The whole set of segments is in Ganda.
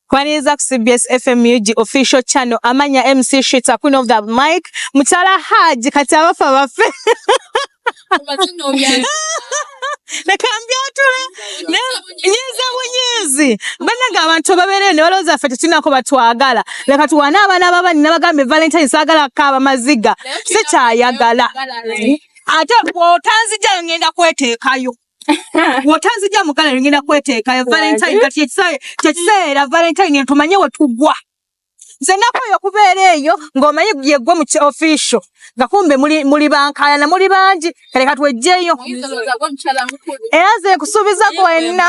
Kwaniriza ku CBS FMUG official channel amanya MC Shita Queen of the Mic Mutala Haji kati abafa bafe nakambya otula nyiza bunyizi banaga abantu babeerere ne balowooza ffe tetulinako batwagala leka tuwane abaana babani nabagambye valentine saagala kaaba maziga sikyayagala ate bwotanzija ngenda kwetekayo wotanzija mugala ngenda kweteekayo valentine kati kyekiseera valentine ntumanye wetugwa nze nakoyo okubeera eyo ng'omanyi yegwe mu official nga kumbe muli bankayana muli bangi kaleka twejjeyo era ze nkusuubiza gwe wenna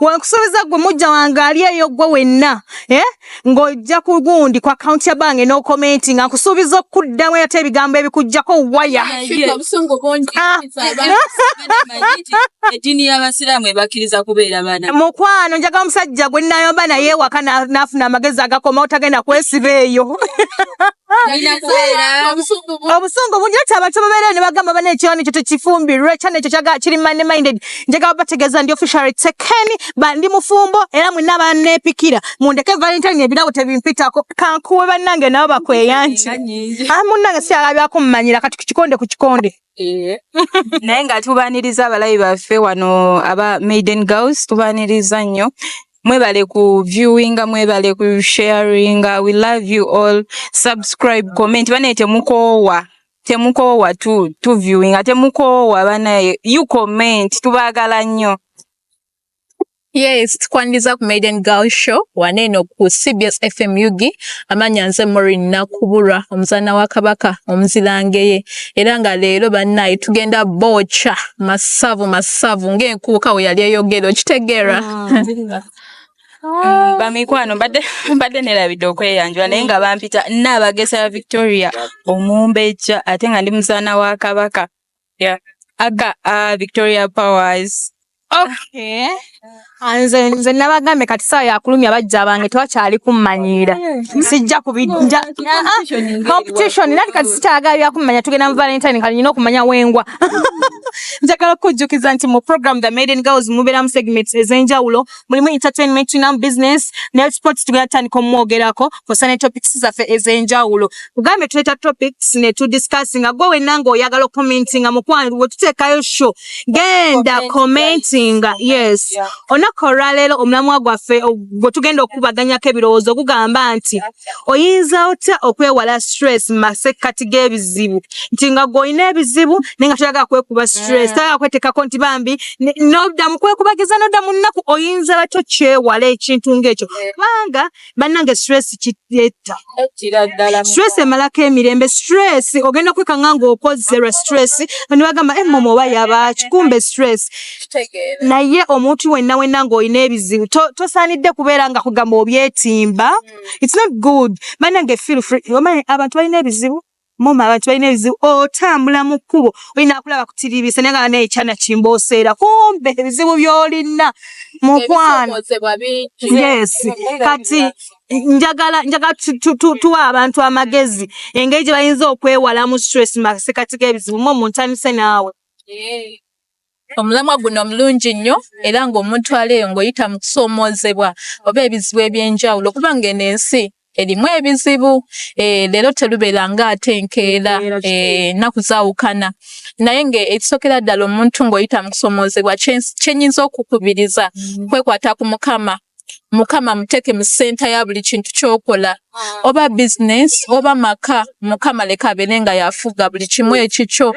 wenkusuubiza gwe mujja wange ali eyo gwe wenna eh? ng'ojja ku gundi ku akawunti ya bange n'okomenti nga nkusuubiza okuddamu ate ebigambo ebikugjako waya mukwano njaga omusajja gwe nayomba naye ewaka n'afuna amagezi agakoma otagenda kwesiba eyo obusungu bungi ati abantu babeereyo ne bagamba bana ekyona ekyo tekifumbirwe kyana ekyo kiri money minded njagala bategeeza ndi officially taken ba ndi mufumbo era mwenna abanneepikira mundeke valentine ebirabo tebimpitako kankuwe bannange nabo bakweyanti ah, munnange si alabyako mumanyira kati ku kikonde ku kikonde eh. naye nga tubaniriza abalabi baffe wano aba maiden girls tubaniriza nnyo mwebale ku viewinga mwebale ku sharinga we love you all subscribe comment banaye temukoowa temukoowa tu tu viewing ate mukoowa banaye you comment tubagala nnyo Yes, tukwaniriza ku Maiden Girl Show waneeno ku CBS FM UG amanya nze Maureen Nakubulwa omuzaana wa Kabaka omuzirangeye era nga leero bannaye tugenda booca masavu masavu ng'enkuuka we yali eyogera okitegeera mm. Ah. bamikwano mbadde mbadde nerabidde okweyanjula naye nga bampita naabagesa ya victoria omumbejja ate nga ndi muzaana wa kabaka aga ah, victoria powers Okay. Ah, nze nze nabagambe kati saa yakulumya bajja bange tewakyali kummanyiira hmm. sijja kubijja competition nati kati sikyagala byakummanya tugenda mu valentine kali nyina okumanya wengwa njagala okujjukiza nti mu program the maiden girls mubeeramu segments ez'enjawulo mulimu entertainment na business ne sports tugenda tutandika omwogerako kosa ne topics zaffe ez'enjawulo tugambe tuleta topics ne tu discuss nga gwe wenna ng'oyagala okumentinga mukwano we tuteekayo show genda commentinga yes olunaku olwaleero omulamwa gwaffe gwe tugenda okukubaganyako ebirowoozo gugamba nti oyinza otya okwewala stress mu masekkati g'ebizibu nti nga gweolina ebizibu naye nga toyagala kwekuba stress toyagala kweteekako nti bambi nodda mu kwekubagiza nodda mu nnaku oyinza batyo kyewala ekintu ng'ekyo kubanga bannange stress kitta stress emalako emirembe stress ogenda kwekanga ng'okozze lwa stress ne bagamba emmomo eh, oba yabaaki kumbe stress naye omuntu wenna wenna ng'olina ebizibu tosaanidde kubeera nga kugamba obyetimba hmm. it's not good bannange feel free omanyi abantu balina ebizibu Mama abantu balina ebizibu otambula mu kkubo olina akulaba kutiribisa naye nga nekyana kimboseera kumbe ebizibu byolina mukwano yes kati njagala njagala tuwa abantu amagezi engeri gye bayinza okwewalamu stress masekati g'ebizibu mu omuntu anise naawe eh. Omulamwa guno mulungi nnyo era ng'omuntu aleeyo ng'oyita mu kusoomoozebwa oba ebizibu eby'enjawulo okuba ng'eno ensi erimu ebizibu eh, leero terubeera nga ate enkeera eh, nnaku zaawukana naye ng'ekisookera ddala omuntu ng'oyita mu kusoomoozebwa kye nnyinza okukubiriza mm. kwekwata ku mukama mukama muteke mu senta ya buli kintu kyokola ah. oba business oba maka mukama leka abere nga yafuga buli kimu ekikyo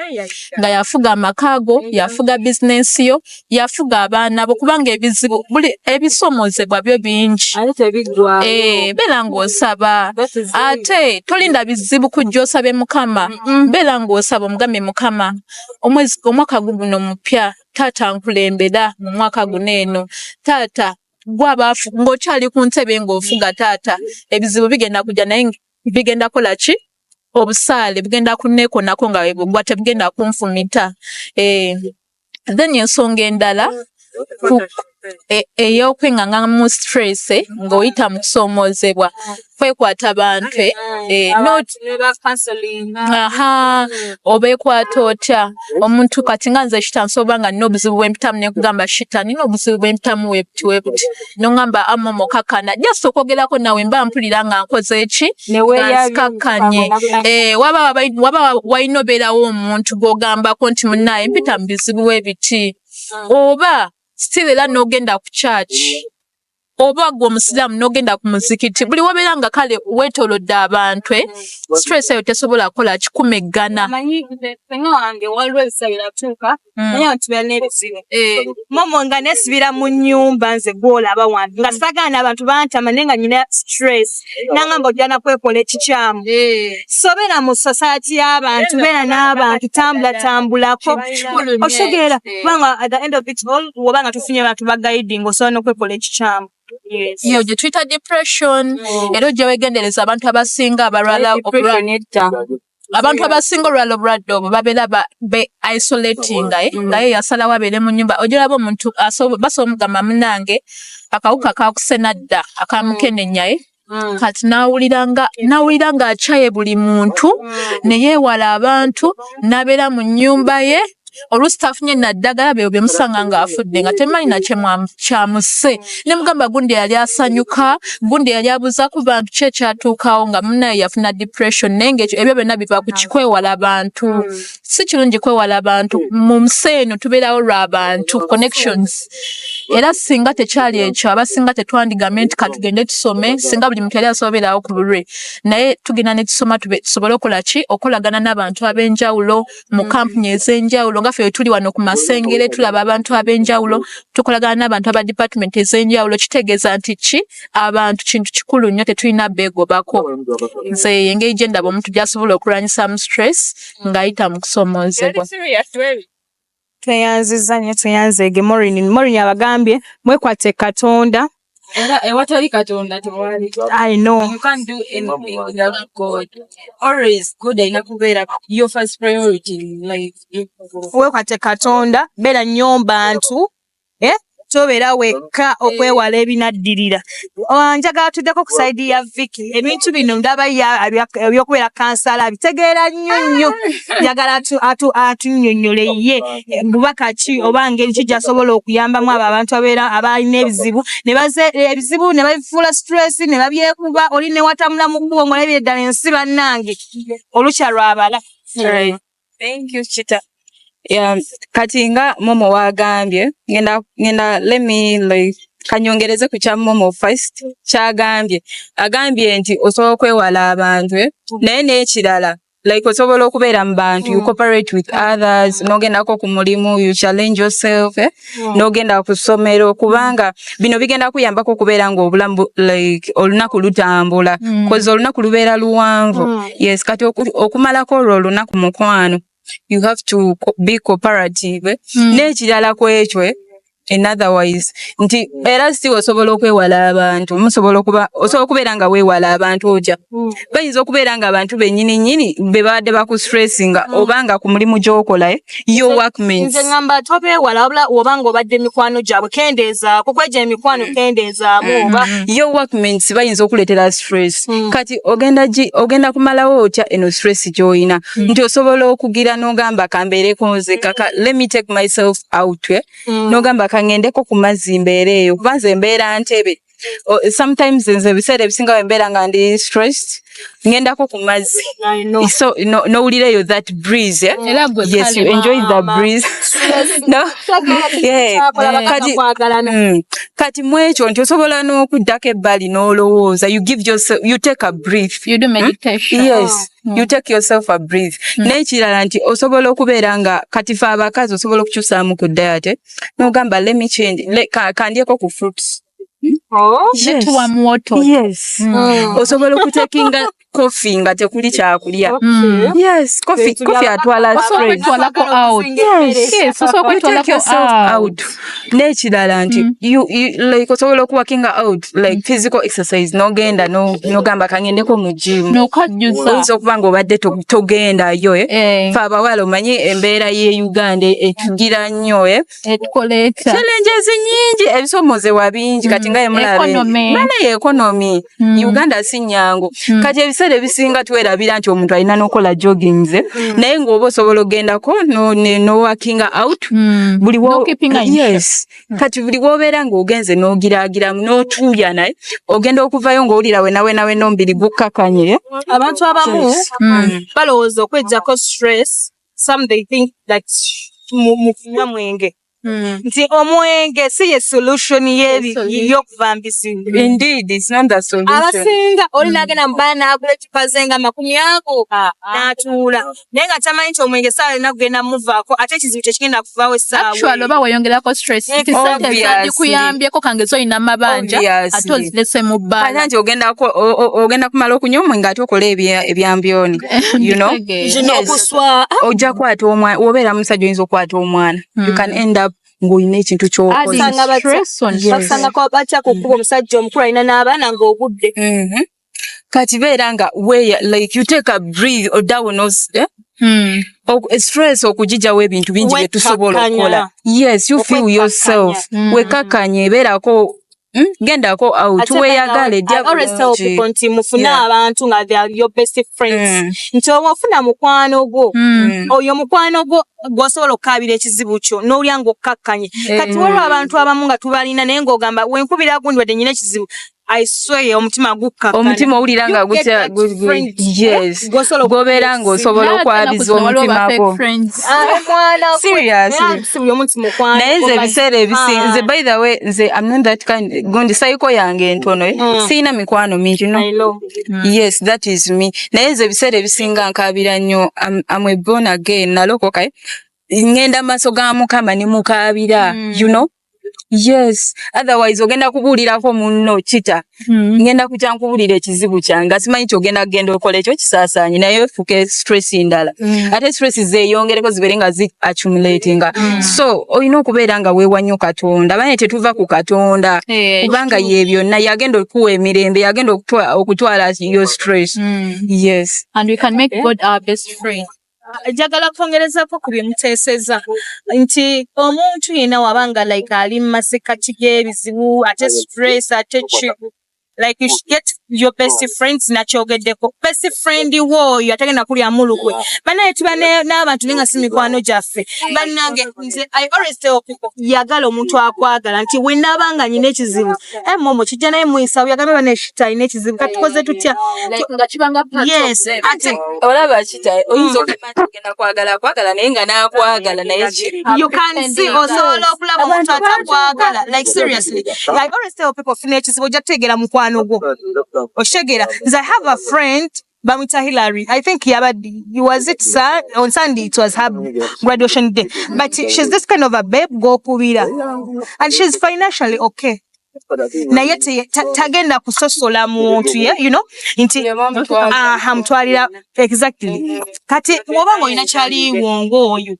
nga yafuga amakago yafuga business yo yafuga abaana bo kubanga ebizibu buli ebisomozebwa byo bingi eh, bera ng'osaba ate tolinda bizibu kujja osabe mukama bera ng'osaba omugambe mukama omwaka guguno mupya taata nkulembera mu mwaka guno eno taata gwabaafu ng'okyali ku ntebe ng'ofuga taata ebizibu bigenda kujja naye bigenda kola ki obusaale bugenda kunneekonako nga webugwa tebugenda kunfumita eh, then ensonga endala e, ey'okwingangamu stress eh, ng'oyita mu kusoomoozebwa kwekwata bantu eh, eh, aha obeekwata otya omuntu kati nga nze shita nsoba nga nina obuzibu bwempitamu nekugamba shita nina obuzibu bwempitamu webuti webuti nongamba ama mukakana just okwogerako nawe mba mpulira nga nkoze eki nzikakkanye waba walina obeerawo omuntu gwogambako nti munaye mpita mu bizibu webiti oba still era nogenda ku church oba gwe omusiraamu nogenda ku muzikiti buli wabeera nga kale wetolodde abantu eh? stress eyo tesobola kukola kikuma eggana nga nesibira mu nyumba nze gwolaba wange nga sagaana abantu bantama naye nga nyina stress nangamba ojana kwekola ekikyamu eh. sobera mu society y'abantu beera n'abantu tambula tambulako okitegeera eh. kubanga at the end of it all woba nga tufunye abantu bagayidinga osobola n'okwekola ekikyamu iyo gye tuyita depression mm. era ojja wegendereza abantu abasinga abalwala okulwa abantu abasinga olwala obulwadde obwo babeera be isolatinga eh? mm. ngaye yasalawo abeere mu nyumba ojolaba omuntu basobola omugamba munange akawuka kakusenadda akamukenenyaye eh? Mm. kati nawuliranga nawuliranga akyaye buli muntu mm. neyewala abantu nabeera mu nyumba ye oluusi tafunye naddagala byo bye musanga ng'afudde nga temanyi nakyekyamuse ne mugamba gundi yali asanyuka gundi yali abuuza ku bantu ki ekyatuukawo nga munaye yafuna depression naye ngaekyo ebyo byonna biva ku kikwewala bantu si kirungi kwewala bantu mu nsi eno tubeerawo lwa bantu connections era singa tekyali ekyo abasinga tetwandigambe nti katugende tusome singa buli muntu yali asobeerawo ku bulwe naye tugenda ne tusoma tusobole okola ki okolagana n'abantu ab'enjawulo mu kampuni mm. ez'enjawulo nga ffe wetuli wano ku masengere tulaba abantu ab'enjawulo tukolagana n'abantu aba department ez'enjawulo kitegeeza nti ki abantu kintu kikulu nnyo tetulina beegobako nze engeri gye ndaba omuntu gy'asobola okulwanyisaamu stress ng'ayita mu kusoomoozebwa tweyanziza nnyo tweyanzeege morin morin abagambye mwekwate katonda Era ewatali Katonda tewali. I know. You can't do anything without God. Always God alina kubeera your first priority in life. Wekwate Katonda, beera nnyo bantu. Eh? Tobeera wekka okwewala ebinaddirira. Oh, njagala tuddeko ku sayidi ya Vicky. Ebintu bino ndaba eby'okubeera kansala abitegeera nnyo nnyo. Njagala atunnyonnyole ye. bubaka ki oba ngeri ki gyasobola okuyambamu abo abantu abeera abalina ebizibu nebaze ebizibu ne babifuula stress ne babyekuba oli ne watambula mu kkubo ng'olabye ddala ensi bannange olukya lwabala thank you chita yeah, kati nga momo wagambye ngenda ngenda let me like kanyongereze ku kya momo first kyagambye agambye nti osobola okwewala abantu eh? naye n'ekirala like osobola okubeera mu bantu you mm. cooperate with others nogendako ku mulimu you challenge yourself eh? mm. nogenda ku ssomero kubanga bino bigenda kuyambako okubeera nga obulamu like olunaku lutambula mm. kozi olunaku lubeera luwanvu mm. yes kati okumalako olwo olunaku mukwano you have to be cooperative eh? mm. n'ekirala kwekyo eh? in other wise nti era si osobola okwewala abantu musobola okuba osobola okubeera nga weewala abantu oja hmm. bayinza okubeera nga abantu bennyini nyini be babadde bakustressinga hmm. oba nga ku mulimu gy'okola eh, your work means nze ngamba tobeewala wabula oba nga obadde emikwano gyabwe kendeezaako kweja emikwano hmm. kendeezaamu oba your work means bayinza okuleetera stress kati ogenda gi ogenda kumalawo otya eno stress gy'olina nti osobola okugira n'ogamba kambeereko nze kaka let me take myself out eh? mm. nogamba kangendeko ku mazzi mbeera eyo kuba nze mbeera ntebe oh, sometimes nze ebiseera ebisinga wembeera nga ndi stressed ngendako ku mazzi so nowulira no eyo that breeze eh? mm. yes you enjoy the breeze no? yeah. kati, mm. kati mwekyo nti osobola n'okuddako ebbali n'olowooza you give yourself, you take a breath you do hmm? meditation. Hmm? yes oh. you mm. take yourself a breathe mm. n'ekirala nti osobola okubeera nga kati fe abakazi osobola okukyusaamu ku diet nogamba let me change kandyeko ku fruits Oh, mm. osobola okutekinga kofi nga tekuli kyakulya atwala n'ekirala nti mm. like osobola okuwakinga out like mm. physical exercise nogenda nogamba kangendeko mu gym oyinza okuba nga obadde togendayo eh? eh. fe abawala omanyi embeera ye uganda etugira nnyo eh? challenges nyingi ebisomozebwa bingi kati mm. nga yemulabebana ye ekonomi Mm. Uganda si nyangu mm. kati ebiseera ebisinga twerabira nti omuntu alina nokola jogging ze mm. naye ngaoba osobola ogendako nowakinga no out mm. buli no yes. mm. kati buli wobeera ngaogenze nogiragiramu notuuya naye ogenda okuvayo ngaowulira wenawenawe nombiri gukkakanye abantu abamu yes. mm. mm. balowooza okwejjako stress some they think that mukunywa mwenge Mm. nti omwenge si ye solution yeyokuvambiziabasinga oli nagenda mm. mubana nagula ecupa zenga makumi ago ah, ah. natuula naye nga tamanyi nti omwenge saawa yona kugenda muvaako ate ekizibu kyekigenda kuvawo esaawaoba weyongerako stressdikuyambyeko kangezi olina amabanja ate ozilese mu bbaala ogenda kumala okunywa omwenge ate okola ebyambyoni ojja kwata omwana wobeera musajja oyinza okwata omwana you can mm. end up ng'olina ekintu kyobakusangako batya ku kkuba omusajja omukulu alina n'abaana ng'ogudde mm-hmm. kati beera nga weya like you take a breathe odawo nos eh? Hmm. stress okujijawo ebintu bingi byetusobola okukola yes you feel yourself mm. wekakanye beerako Hmm? gendako out weyagale nti mufune abantu nga your best friends hmm. nti oba ofuna mukwano gwo hmm. oyo mukwano gwo gwosobola okukabira ekizibu kyo nolya nga okkakkanye eh. kati waliwo abantu abamu nga tubalina naye ngaogamba wenkubira gundi wadde nyina ekizibu i swear omutima gukka omutima owulira nga gutya yes gobera nga osobola okwabiza omutima gwo naye nze ebiseera ebisinga nze by the way nze am not that kind gundi sayiko yange entono eh? mm. siyina mikwano mingi no mm. yes that is me naye nze ebiseera ebisinga nkabira nnyo am a born again nalokoka eh? ngenda maaso ga mukama ne mukaabira mm. you know yes otherwise ogenda kubuulirako munno kita hmm. ngenda kutya nkubuulira ekizibu kyange nga simanyi nti ogenda kugenda okola ekyo kisaasaanye naye fuke stress ndala hmm. ate stress zeeyongereko zibeere nga zi accumulatinga hmm. so olina okubeera nga weewa nnyo katonda bane tetuva ku katonda eh, kubanga ye byonna yagenda okuwa emirembe yagenda okutwala yo stress yes and we can make eh? god our best friend njagala kwongerezako ku bye muteeseza nti omuntu yenna waba nga like ali mu masekkati g'ebizibu ate stress ate ki like you should get your best friends nakyogeddeko best friend wo oyo atagenda kulyamu lukwe banaye tuba n'abantu naye nga si mikwano gyaffe bannange nze i always tell people yagala omuntu akwagala nti wenaaba nga nyina ekizibu eh momo kijja naye muisa uya gabe bane shita ine kizibu katukoze tutya nga kibanga part yes ati olaba kita oyinzo kati kenda kwagala kwagala naye nga nakwagala naye you can see also lokula muntu atakwagala like seriously i always tell people fine kizibu jategera mukwano gwo oshegera i have a friend Bamwita Hillary. I think Yabadi, was it sir? On Sunday, it was her graduation day. But she's this kind of a babe, go kubira. And she's financially okay. naye tagenda kusosola muntu ye you know nti aha mutwalira exactly kati oba ngaolina kyaliwo ngaoyo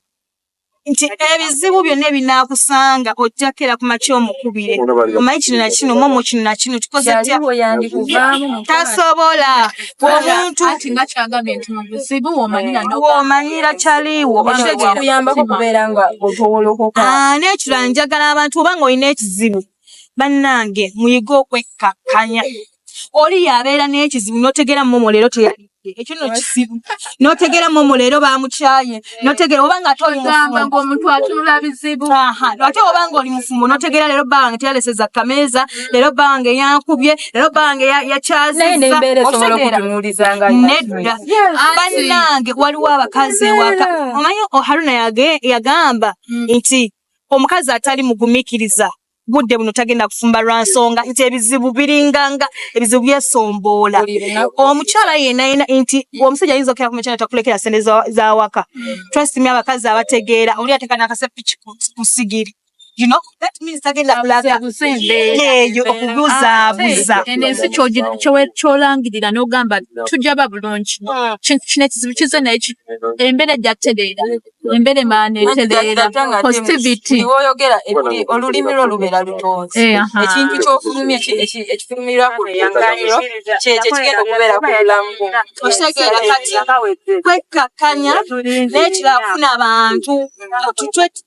nti ebizibu byonna ebinaakusanga ojja kera ku makya omukubire omanyi kino na kino momo kino na kino tukoze tya tasobola omuntu womanyira kyaliwo n'ekirala njagala abantu oba nga olina ekizibu bannange muyige okwekkakkanya oli yabeera n'ekizibu notegeera momo leero teyalidde ekyo no kizibu notegeera momo leero bamukyaye notegeera oba nga omuntu atunula bizibu ate oba nga oli mufumbo notegeera leero bba wange teyaleseza kameeza leero bba wange yankubye leero bba wange yakyazizza nedda bannange waliwo abakazi ewaka omanyi oh, haruna yagamba mm. nti omukazi atali mugumikiriza budde buno tagenda kufumba lwa nsonga nti ebizibu biringanga ebizibu byesomboola omukyala yenayena nti omusajja ayinza okera kumekyana takulekera sente zawaka twesimi abakazi abategeera oli ateka nakasepiki ku sigiri you know that means tagenda kulaga eyo okubuzaabuza ah, eno ensi kyolangirira n'ogamba tujja ba bulungi ah. kino ekizibu kize naye embeera ejja kutereera embere maneterera positivity woyogera olulimi lwo lubeera lutonzi eh, ekintu kyofulumye ekifulumirwa ku luyangaliro kyekyo kigenda okubeera ku bulamu okitegera kati kwekkakkanya n'ekirala kufuna abantu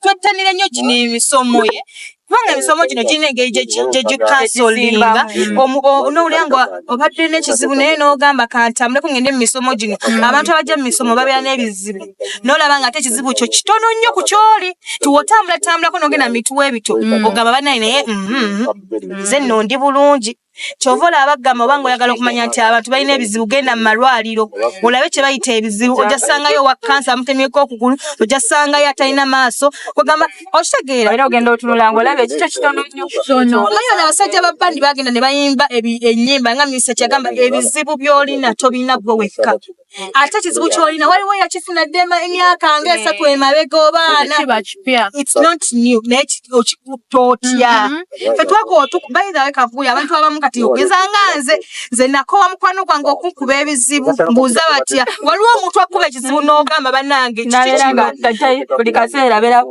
twettanire nnyo gino emisomo ye kubanga emisomo gino girina engeri gyegikasolinga nowulira nga obadde nekizibu naye nogamba kantambuleko ngende mumisomo gino mm. abantu abajja mumisomo babeera nebizibu nolaba nga ate ekizibu kyo kitono nnyo ku kyoli tiwotambula tambulako nogenda mumituwa ebito mm. ogamba banaye naye mm-hmm. nze nondi bulungi kyova olaba bagamba oba nga oyagala okumanya nti abantu balina ebizibu genda mu malwaliro olabe kye bayita ebizibu ojja sangayo owa kansa amutemyeko okugulu ojja sangayo atalina maaso kwegamba okitegeera era ogenda otunula nga olaba ekikyo kitono nnyo omanyi ono abasajja ba bandi bagenda ne bayimba ennyimba nga minisita kyagamba ebizibu by'olina tobirina gwe wekka ate kizibu kyolina waliwo yakifuna dde emyaka nga eh. esatu emabega obaana okikuta otya mm-hmm. fe twakobaithawe kavuyo abantu abamu kati ogeza nga nze nze nakowa mukwano gwange okunkuba ebizibu mbuuza batya waliwo omuntu akuba ekizibu n'ogamba banange kiki kiba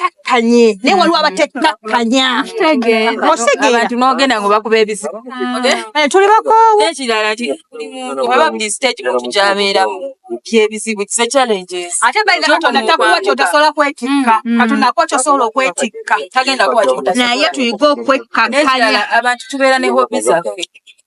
takkanye naye waliwo abatettakkanya abantu nogenda ngo bakuba ebizibu eh, tuli bakoowu ekirala ti buli muntu oba buli stage muntu gyabeeramu byebizibu kisa challenges ate baina katonda takuwa kyotasobola kwetikka mm, mm. katonda akuwa kyosobola okwetikka tagenda kuwa kyotasobola naye tuyige okwekkakanya abantu tubeera ne hobi zaffe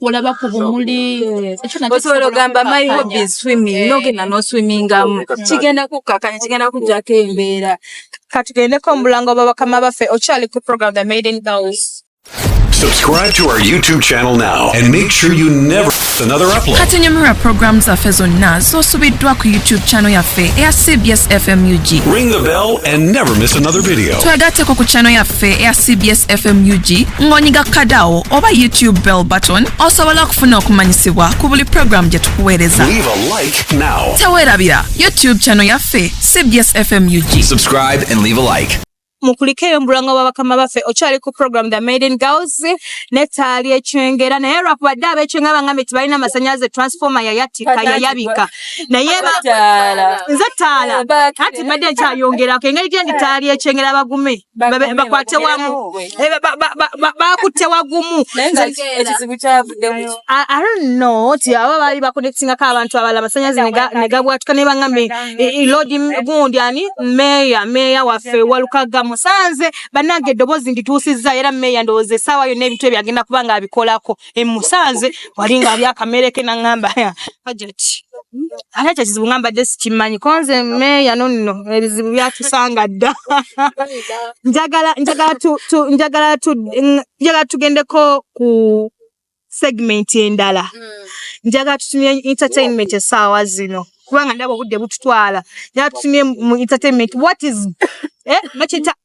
olaba ku bumuli osobola ogamba my hobby is swimming eh. nogenda noswimingamu kigenda kukkakanya kigenda kujjako embeera katugendeko omulango babakama baffe okyali ku program the maiden girls Subscribe to our YouTube channel now and make sure you never miss another upload. Kati nyumira program zaffe zonna z'osubiddwa ku YouTube channel yaffe eya CBS FMUG. Ring the bell and never miss another video. Twegatteko ku channel yaffe yaffe eya cbs fm ug ng'onyiga kadawo oba youtube bell button osobola okufuna okumanyisibwa ku buli pulogulaamu gye tukuweereza Leave a like now. teweerabira youtube channel yaffe cbs fm ug Subscribe and leave a like. mukulikeyo mbulanga bwa bakama baffe okyali ku program the maiden girls netaali ekyengera naye lwakuba dde abekyengera bangambye tebalina masanyalaze transformer yayatika yayabika naye nze ttaala anti mbadde nkyayongerako engeri gyendi ttaala lyekyengera bagume bakwate wamu eh, bakutte wagumu no ti aba baali bakonektingako abantu abala amasanyazi negabwatuka naye bagambe lodi gundi ani meeya meeya waffe walukaga musanze banange eddoboozi ndituusizza era meeya ndowooza essaawa yonna ebintu ebyo agenda kuba nga abikolako emusanze wali nga alya akamere ke nangamba hajati ate ekyo kizibu nga mbadde sikimanyi konze meeya nonno ebizibu byatusanga dda njagala tugendeko ku segment endala hmm. njagala tutumye entertainment esaawa zino kubanga ndaba obudde bututwala njagala tutumye mu entertainment what is eh,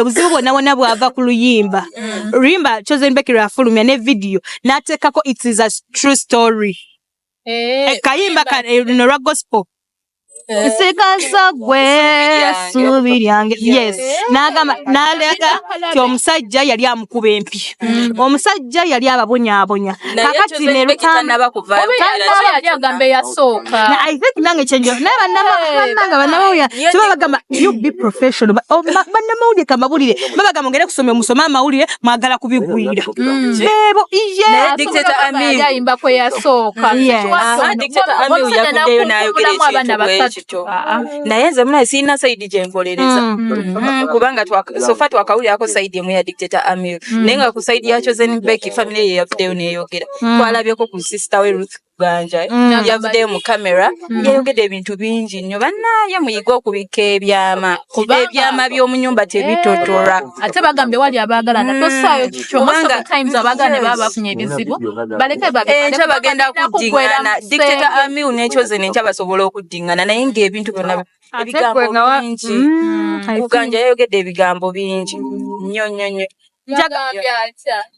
obuzibu bwonna bwonna bwava ku luyimba mm. luyimba chosen becky lwafulumya ne vidiyo n'ateekako it is a true story eh, eh, kayimba eh, luno lwa gospel nsigaza gwe suubi lyange yes n'agamba n'aleeta ti omusajja yali amukuba empi mm. omusajja yali ababonyabonya kakati nerutambaagamba eyasooka i think nange kyenjo naye banamanga banamawulire kiba bagamba you be professional oh, banamawulire kamawulire babagamba ngere kusomya omusoma amawulire mwagala kubigwira mm. bebo iyeayimba kweyasooka abaana basatu kyo ah, ah. mm. naye nze muna sirina saidi gyenkolereza mm. mm. mm. kubanga sofa twakawulirako saidi emu ya dictator amir mm. naye nga ku saidi yakyo zenbeki family ye yavuddeyo neyogera mm. twalabyeko ku sister we ruth ganja eh? mm. yavuddeyo mu camera mm. yayogedde ebintu bingi nnyo banaye muyige okubikka ebyama kuba ebyama by'omunyumba tebitotorwa eh, ate bagambye wali abaagalana hmm. tosaayo kikyoanga times abaagala ne baba bafunye ebizibu baleke enkya eh, bagenda kuddingana dictator amiu n'ekyo zino enkya basobola okuddingana naye ng'ebintu byonna ebigambo bingi hmm, kuganja yayogedde ebigambo bingi nnyo nnyo nnyo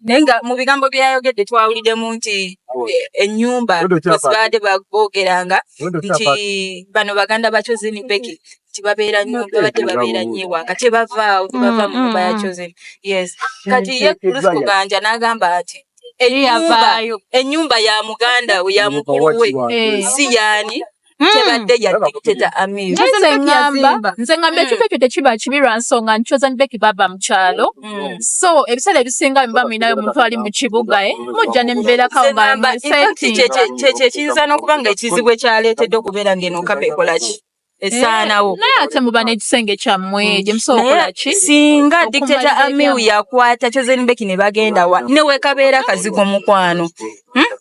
naye nga mu bigambo bye yayogedde twawuliddemu nti ennyumba wezibadde boogeranga nti bano baganda ba chozeni beki nti babeera nnyo babadde babeera nnyo ewaka tebavaawo tebava mu nyumba ya chozeni yes kati ye lusikuganja n'agamba nti ennyumba ya muganda we ya mukulu we si yaani hmm. tebadde ya dictator amir nze ngamba nze ngamba hmm. ekifo ekyo tekiba kibi lwa nsonga nti chosen becky baba mu kyalo hmm. so ebiseera ebisinga biba mulinayo omuntu ali mu kibuga e mujja ne mubeera kawobakyekiyinza n'okuba nga ekizibu ekyaleetedde okubeera ng'eno kapa ekola ki esaanawo eh, naye ate muba n'ekisenge kyammwe gye musobola okukola ki singa dictator amiu yakwata chosen becky ne bagenda wa ne wekabeera kazigo mukwano hmm?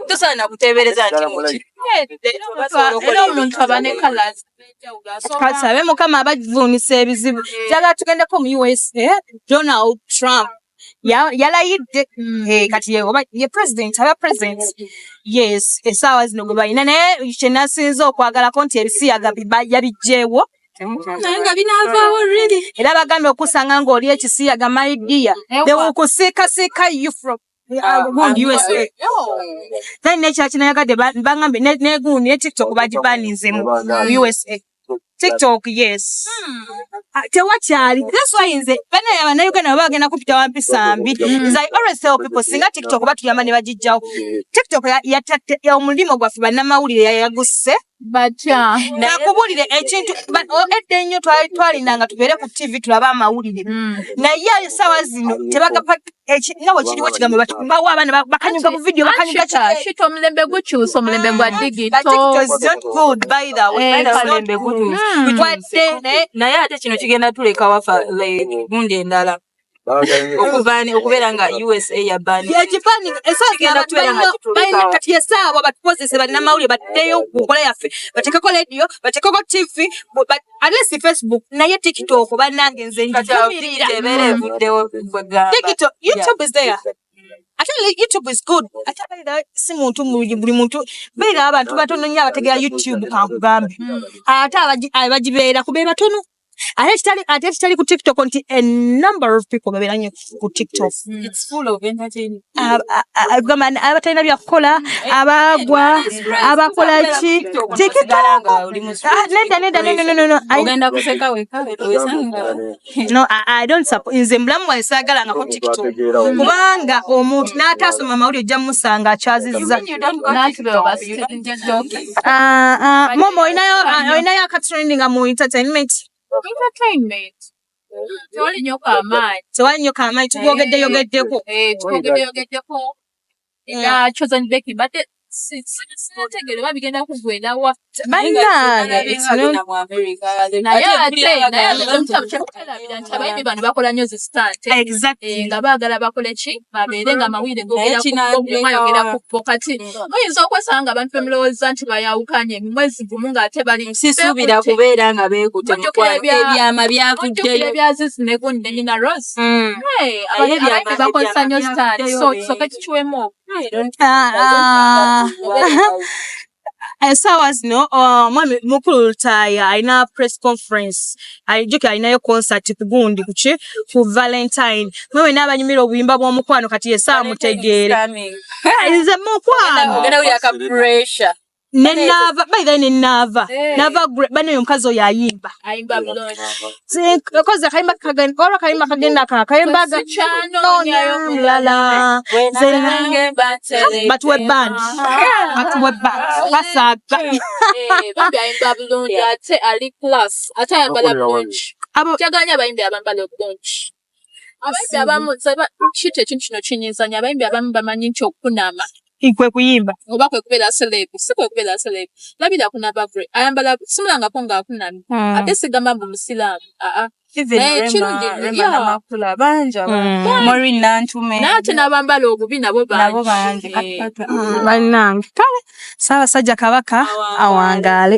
tosaana kuteebereza nti omuntu aba ne kalazi kasabe mukama abavuunisa ebizibu njagala tugendeko mu usa donald trump yalayidde mm. eh, kati oba ye president aba president yes esaawa zino gwe balina naye kyenasinza okwagalako nti ebisiyaga yabijjeewo era bagambye okusanga ng'oli ekisiyaga my dear they will kusika sika you from then nekyaki nayagadde bangambye negundi ne tiktok bagibaninze mu usa tiktok yes hmm. ah, tewakyali that's why nze banaya banauganda baba bagenda kupita wampisa mbi hmm. i always tell people singa tiktok batuyamba ne bagijjawo tiktok yatatte omulimu gwaffe bannamawulire yayagusse batya nakubulire ekintu edda ennyo twalinanga tubeere ku tv tulabe amawulire hmm. naye ayo saawa zino tebagapa nga wekiriwo kigambo bawo abaana bakanyuga mu vidiyo bakanyugakito omulembe gukyusa omulembe gwa hmm. digitomulembe gukyusa naye ate kino kigenda tulekawafa gundi endala okubani okubeera nga usa yabani yekipani esagenda kubeera nga kituleka kati esaawa batukozese bannamawulire baddeyo ku nkola yaffe batekeko lediyo batekeko tv alesi facebook naye tiktok bannange nze njumirira tiktok youtube is there ate youtube is good ate abeera si muntu buli muntu beera abantu batono nyo abategera youtube kankugambe hmm. ate abagibeera kubeera batono ate kitali ate kitali ku tiktok nti a number of people babeera nnyo ku tiktok gamba abatalina byakukola abagwa abakola ki nze mulamu wange saagalangako tiktok kubanga omuntu n'ataasoma mawulire ojja mumusanga akyazizza Ah, ah, mama olinayo ah, olinayo akatrend nga mu entertainment tewali nyo kamaanyi tewali nyo kamaanyi tubyogedde yogeddeko eh, eh, tubyogedde yogeddeko era chosen becky but sinategere oba bigenda kugwenda wa bannangeabayimbi bano bakola nyo zisitante eh, nga baagala bakole ki babeere nga amawulire goyogera ku bo kati muyinza okwesanga abantu bemulowooza nti bayawukanye mu mwezi gumu ng'ate bali sisuubira kubeera nga beekute ebyama byakuddeyo ebyazizi ne gundi ne nina rose hmm. abayimbi bakozesa nnyo sitaani so kisoke kikiwemu esaawa zino omwami mukulu lutaaya alina press conference ayijuke alinayo concert kugundi kuki ku valentine mwe wena abanyumira obuyimba bw'omukwano kati yesa amutegeere nze mukwano nenava by then nenava eh. nava bano yo mukazi oyo ayimba kozi akayimba kagenda olwo akayimba kagenda ka akayimba gakyanoonyamulala batuwe band batuwe band basaga eh, ate ayambala bulungi kyagaanyi abayimbi abambala obulungi abayimbi abamu kita ekintu kino kinyizanyo abayimbi abamu bamanyi nti okunaama kwe kuyimba oba kwe kubeera selebu si kwe kubeera selebu labira kunabavre ayambala simulangako ng'akunamye hmm. ate sigamba mbu musiraamu aa nate nabambala obubi nabo bangi banange kale saabasajja kabaka awangaale